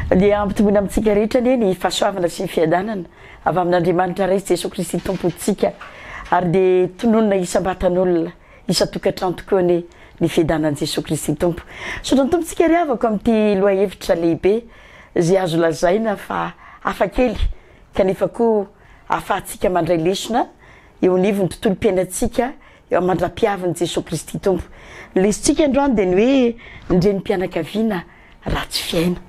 Dia hampitomboina amintsika rehetra anie ny fahasoavana sy ny fiadanana avy amin'Andriamanitra Ray sy Jesoa Kristy Tompontsika. Ary dia tononina isam-batan'olona. isan-tokantrano tokoa anie ny fiadanan'i Jesoa Kristy Tompo. Misaotra ny Tompo tsika ry havako amin'ity lohahevitra lehibe izay azo lazaina fa hafa kely kanefa koa ahafahantsika mandray lesona eo anivon'ny tontolom-piainantsika eo aman-dRapihavin'i Jesoa Kristy Tompo. Ny lesotsika androany dia ny hoe ny renim-pianakaviana ratsy fiaina.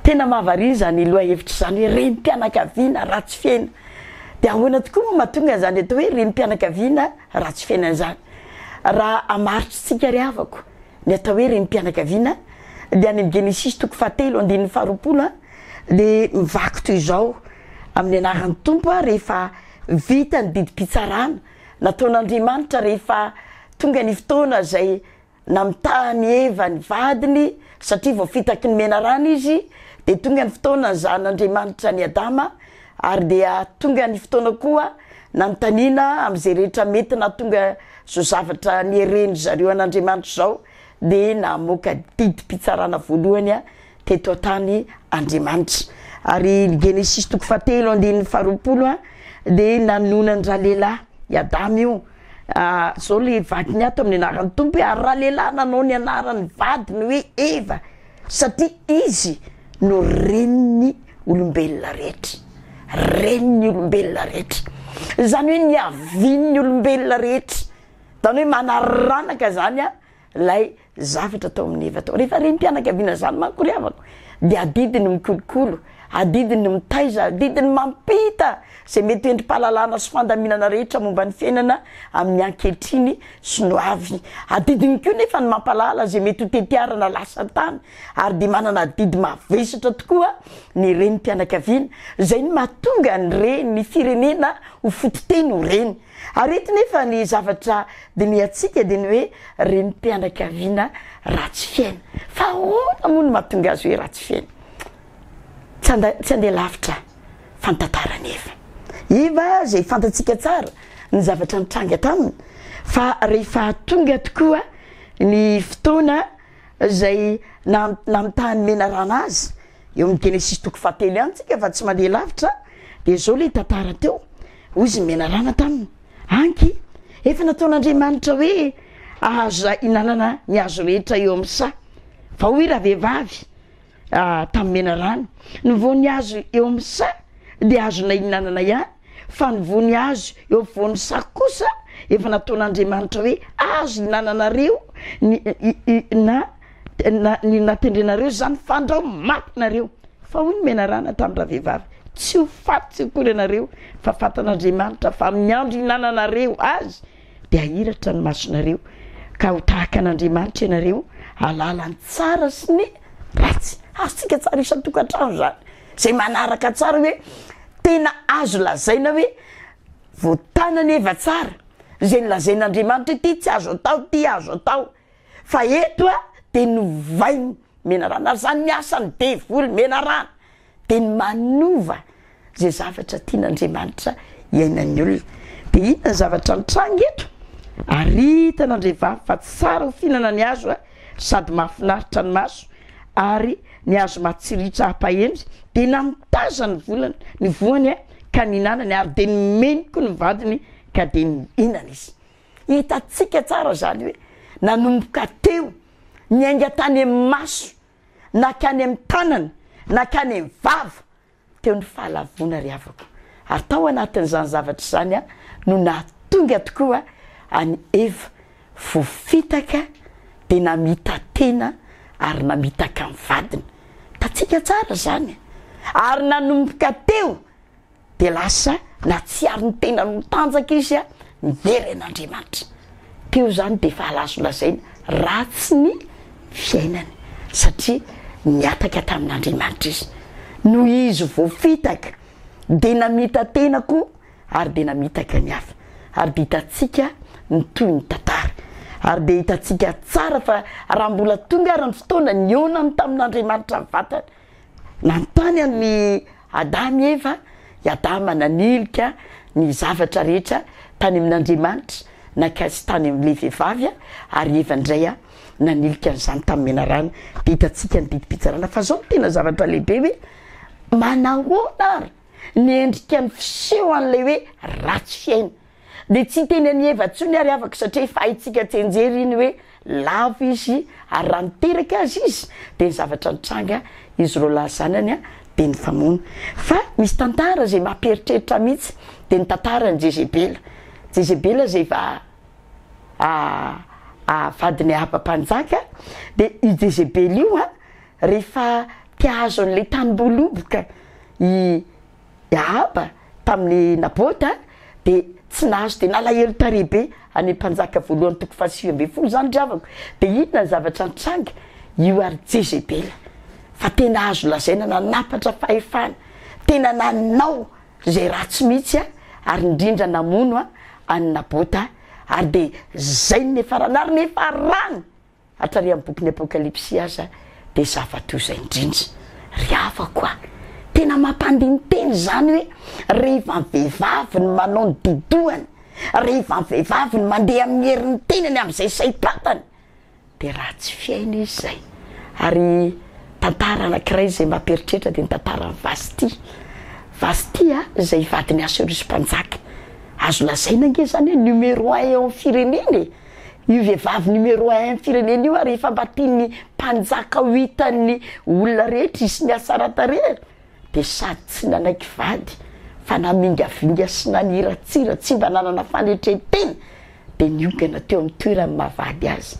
Tena mahavariana izany lohahevitra izany hoe renim-pianakaviana ratsy fiaina. Dia ahoana tokoa moa mahatonga an'izany atao hoe renim-pianakaviana Raha tsifena izany, raha hamaritr'tsika ry havako ny atao hoe renim-pianakaviana dia any amin'ny Genesisy toko fahatelo andininy faharoapolo dia mivaky toy izao, Amin'ny anaran'ny Tompo rehefa vita ny didim-pitsarana nataon'Andriamanitra rehefa tonga ny fotoana izay Namitaha an'i Eva ny vadiny satria vao fitaky ny menarana izy, dia tonga ny fotoana nizahan'Andriamanitra an'i Adama, ary dia tonga ny fotoana koa nanontaniana amin'izay rehetra mety nahatonga izao zavatra niherehin-dry zareo an'Andriamanitra izao, dia namoaka didim-pitsarana voalohany teto an-tany Andriamanitra. Ary ny Genesisy toko fahatelo andininy faharoapolo a, dia nanonan dralehilahy i Adama io, zao le vadiny ato amin'ny anaran'ny Tompo hoe ary ralehilahy nanao ny anaran'ny vadiny hoe Eva satria izy no renin'ny olombelona rehetra, renin'ny olombelona rehetra, izany hoe niavian'ny olombelona rehetra, izany hoe manaranaka izany a. ilay zavatra atao amin'ny heva atao. Rehefa renim-pianakaviana izany manko ry havako dia adidiny mikolokolo, adidiny mitaiza, adidiny mampita izay mety ho endri-pahalalana sy fandaminana rehetra momba ny fiainana amin'ny ankehitriny sy ny ho avy. Adidiny koa nefa ny mampahalala izay mety ho tetiarana lasa tany ary dia manana adidy mavesatra tokoa ny renim-pianakaviana. Izay no mahatonga ny re- ny firenena ho fototeny ho reny. Ary eto nefa ny zavatra dinihantsika dia ny hoe renim-pianakaviana ratsy fiaina. Fa ahoana moa no mahatonga azy hoe ratsy fiaina? Tsy handeha lavitra fa ny tantara anefa. Iva izay fantatsika tsara ny zavatra nitranga taminy fa rehefa tonga tokoa ny fotoana izay namitahan'ny menarana azy, eo amin'ny Genesisy toko fahatelo ihany tsika fa tsy mandeha lavitra, dia izao ilay tantara teo. Hoy izy menalana taminy, Anky, efa nataon'Andriamanitra hoe azo ihinanana ny hazo rehetra eo amin'ny saha. Fa hoy ravehivavy tamin'i menalana, Ny voan'ny hazo eo amin'ny saha dia azonay ihinanana ihany, fa ny voan'ny hazo eo afovoan'ny saha kosa efa nataon'Andriamanitra hoe azo ihinananareo na Tena ny natendrenareo zany fandrao maty nareo fa hoy ny menarana tamin'ny ravehivavy tsy ho faty tsy ho kolo ianareo fa fatan'Andriamanitra fa amin'ny andro hinananareo azy dia hahiratra ny masonareo ka ho tahaka an'Andriamanitra ianareo halala ny tsara sy ny ratsy azontsika tsara isan-tokantrano zany zay manaraka tsara hoe tena azo lazaina hoe voatana ny eva tsara zay ny lazain'Andriamanitra ity tsy azo atao ty azo atao Fa eto a de novainy menarana ary zany ny asany devoly menarana de ny manova ze zavatra tian' Andriamanitra hiainan'ny olona de inona ny zavatra nitranga eto ary hitan' Andriavavy fa tsara ho fihinana ny hazo a sady mahafinaritra ny maso ary ny hazo matsiritra hampahendry de namitaza ny volany ny voany a ka nihinanany ary de nomeny koa ny vadiny ka de nihinana izy Hitantsika tsara izany hoe nanomboka teo, niainga tany amin'ny maso, nankany amin'ny tanana, nankany amin'ny vava, teo ny fahalavoana ry havako. Ary tao anatin'izany zavatra izany no nahatonga tokoa an'i Eva voafitaka dia namita-tena ary namitaka ny vadiny. Hitantsika tsara izany. Ary nanomboka teo. Dia lasa nahatsiaro ny tenany ho tanjaka izy miverina an'Andriamanitra. Teo izany dia efa azo lazaina ratsy ny fiainany satria nihataka tamin'Andriamanitra izy. Noho izy voafitaka dia namita-tena koa ary dia namitaka ny hafa. Ary dia hitantsika ny tohin'ny tantara. Ary dia hitantsika tsara fa raha mbola tonga ary ny fotoana nionany tamin'Andriamanitra ny vatany, nanontany an'i Adama i Eva, i Adama nanilika ny zavatra rehetra tany amin'Andriamanitra, nankaiza tany amin'ilay vehivavy, ary Eva indray nanilika an'izany tamin'ny menarana. Dia hitantsika ny didim-pitsarana fa izao no tena zavatra lehibe hoe, manahoana ary ny endrikan'ny fiseho an'ilay hoe ratsy fiaina? Dia tsy hiteny an'i Eva intsony àry afaka, satria efa haintsika tsianjery iny hoe lavo izy, ary raha niteraka azy izy, dia ny zavatra nitranga izy roa lahy zanany dia nifamono. Fa misy tantara izay mampieritreritra mihitsy, dia ny tantaran'i Jezebela. Jezebela izay va vadin'i Ahaba mpanjaka, dia io Jezebela io, rehefa te-hahazo an'ilay tanimboaloboka i. I Ahaba tamin'i Nabota dia tsy nahazo dia nalahelo tarehy be, Any Mpanjaka voalohany toko fahasivy ambin'ny folo izany ry havako, dia inona ny zavatra nitranga? Io ary Jezebela fa tena azo lazaina nanapatra fahefana, tena nanao izay ratsy mihitsy an, ary indrindra namono an an'i Nabota, ary dia izay no niafarany, ary niafarany Hatary amin'ny bokin'ny Apokalypsy aza dia zava toy izay indrindra. Ry havako a! Tena mampandini-tena izany hoe rehefa ny vehivavy no manao ny didohany, rehefa ny vehivavy no mandeha amin'ny herin'ny tenany amin'izay saim-pantany, dia ratsy fihaino izy izay. Ary tantara anankiray izay mampieritreritra dia ny tantaran'i Vasti. Vasti a, izay vadin'i Asiorisy Mpanjaka. Azo lazaina ange izany hoe numéro un eo amin'ny firenena e! Io vehivavy numéro un am firenena io ary efa mba tian'ny mpanjaka ho hitan'ny olona rehetra izy sy ny hasaran-tarehy dia sady tsy nanaiky vady fa namingavinga sy naniratsira tsy mba nanana fanetren-tena dia niongana teo amin'ny toeran'ny maha vady azy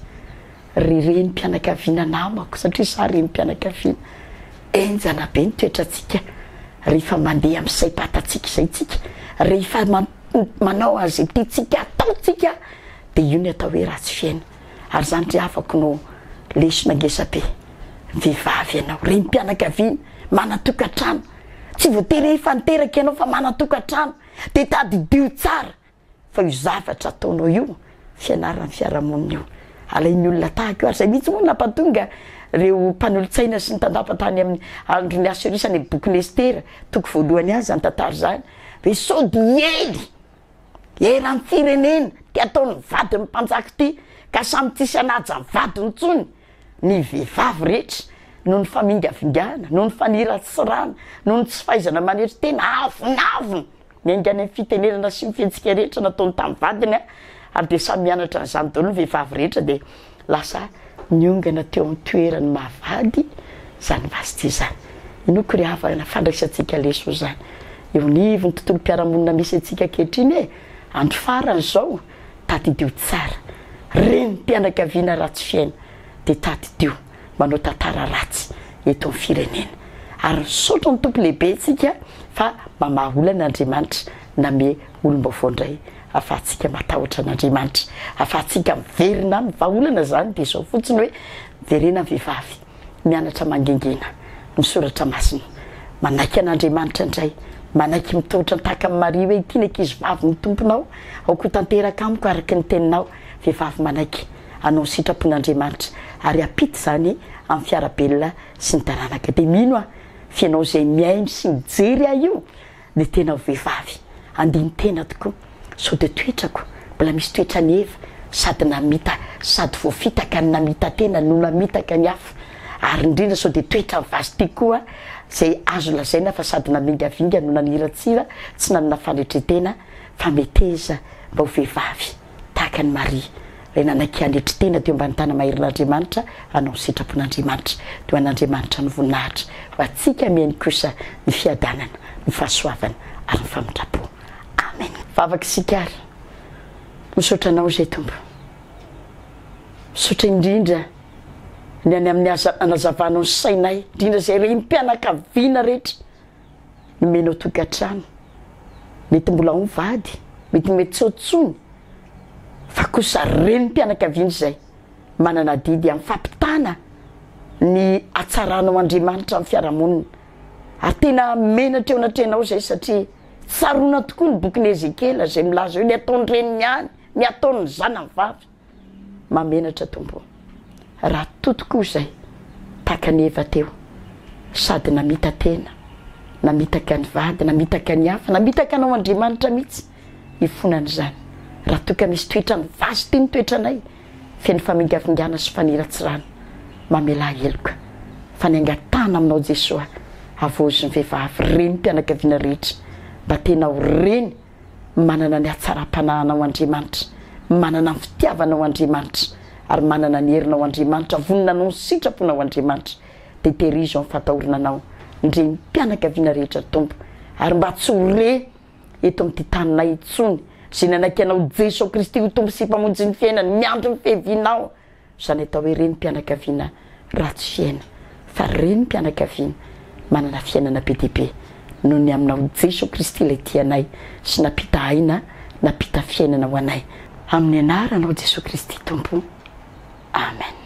ry renim-pianakaviana namako satria izaho renim-pianakaviana enjana be ny toetrantsika rehefa mandeha amin'ny saim-patatsika izay tsika rehefa manao an'izay tiantsika ataontsika dia io ny atao hoe ratsy fiaina ary izany ry havako no lesona ngesabe, vehivavy ianao, renim-pianakaviana, manan-tokantrano, tsy voatery efa niteraka ianao fa manan-tokantrano dia tadidio tsara fa io zavatra ataonao io fianaran'ny fiarahamonina io. Alain'ny olona tahaka io ary izay mihitsy moa no nampatonga ireo mpanolotsaina sy ny tandapa tany amin'ny andron'ny Assyrie any bokin'i Estera toko voalohany any izany tantara izany hoe sao dia hiely eram-pirenena ty ataon'ny vadin'ny mpanjaka ity ka samy tsisy hanaja ny vadiny intsony ny vehivavy rehetra noho ny famingavingana, noho ny faniratsirana, noho ny tsy fahaizana manery tena avonavona. Miainga any amin'ny fitenenana sy ny fihetsika rehetra nataony tamin'ny vadiny ary dia samy mianatra an'izany daholo ny vehivavy rehetra dia lasa niongana teo amin'ny toeran'ny maha vady izany Vasti izany. Inoako ry havana, fandraisantsika leso izany eo anivon'ny tontolom-piarahamonina misy antsika ankehitriny e! Andro farany izao, tadidio tsara. Renim-pianakaviana ratsy fiaina dia tadidio. manao tantara ratsy eto am firenena ary misaotra ny Tompo lehibe tsika fa mamaha olana Andriamanitra name olombaovao ndray afahatsika matahotra an'Andriamanitra afahatsika miverina aminy fa olana zany de zao fotsiny hoe miverena ny vehivavy mianatra mangingina ny soratra masina manaiky an'Andriamanitra ndray manaiky mitohotra tahaka ny Maria hoe ity ny ankizy vavy ny Tomponao aoko tanteraka amiko araka ny teninao vehivavy manaiky hanao ny sitrapon'Andriamanitra ary hampita izany amin'ny fiara-belona sy ny taranaka. Dia mino aho fa ianao izay mihaino sy mijery ahy io dia tena ho vehivavy andinin-tena tokoa sao dia toetrako mbola misy toetran'i Eva sady namita sady voafitaka ny namita tena no namitaka ny hafa ary indrindra sao dia toetran'i Vashti koa izay azo lazaina fa sady namingavinga no naniratsira tsy nanana fanetren-tena fa meteza mba ho vehivavy tahaka an'i Maria, ilay nanaiky hanetry tena teo ambany tàna maherin'Andriamanitra hanao ny sitrapon'Andriamanitra, dia ho an'Andriamanitra ny voninahitra, ho antsika mihaino kosa ny fiadanana, ny fahasoavana ary ny famindram-po. Amen. Vavaka isika ary, Misaotra Anao izay Tompo. Misaotra indrindra ny any amin'ny aza nanazavanao ny sainay, indrindra izay renim-pianakaviana rehetra nomenao tokantrano, mety mbola ao ny vady, mety mety tsy ao tsony fa kosa renim-pianakaviana izay manana adidy amin'ny fampitana ny hatsaranao Andriamanitra amin'ny fiarahamonina. Ary tena menatra eo anatrehanao izay satria tsaroana tokoa ny bokin'i Ezekiela izay milaza hoe ny ataon'ny reniny ihany, ny ataon'ny zanany vavy. Mahamenatra Tompo o! Raha to tokoa izay, tahaka an'i Eva teo, sady namita-tena, namitaka ny vady, namitaka ny hafa, namitaka Anao Andriamanitra mihitsy, ifonana izany, raha toa ka misy toetra mivazo ity ny toetranay, feno famingavingana sy faniratsirana, mamelà heloka, fa ny angatahana Aminao Jesoa, havaozy ny vehivavy, renim-pianakaviana rehetra, mba tena ho reny, Manana ny hatsaram-panahinao Andriamanitra, manana ny fitiavanao Andriamanitra, ary manana ny herinao Andriamanitra, vonona hanao ny sitraponao Andriamanitra, dia tehirizo amin'ny fatahorana anao, ndry ny mpianakaviana rehetra Tompo, ary mba tsy ho re eto amin'ity taninay intsony, izay nanaiky anao Jeso Kristy ho Tompo sy Mpamonjy ny fiainany, miandry ny fiavianao. Izany atao hoe renim-pianakaviana ratsy fiaina fa renim-pianakaviana manana fiainana be dia be noho ny aminao Jeso Kristy ilay tia anay sy nampita aina nampita fiainana ho anay. Amin'ny anaranao Jeso Kristy Tompo. Amen.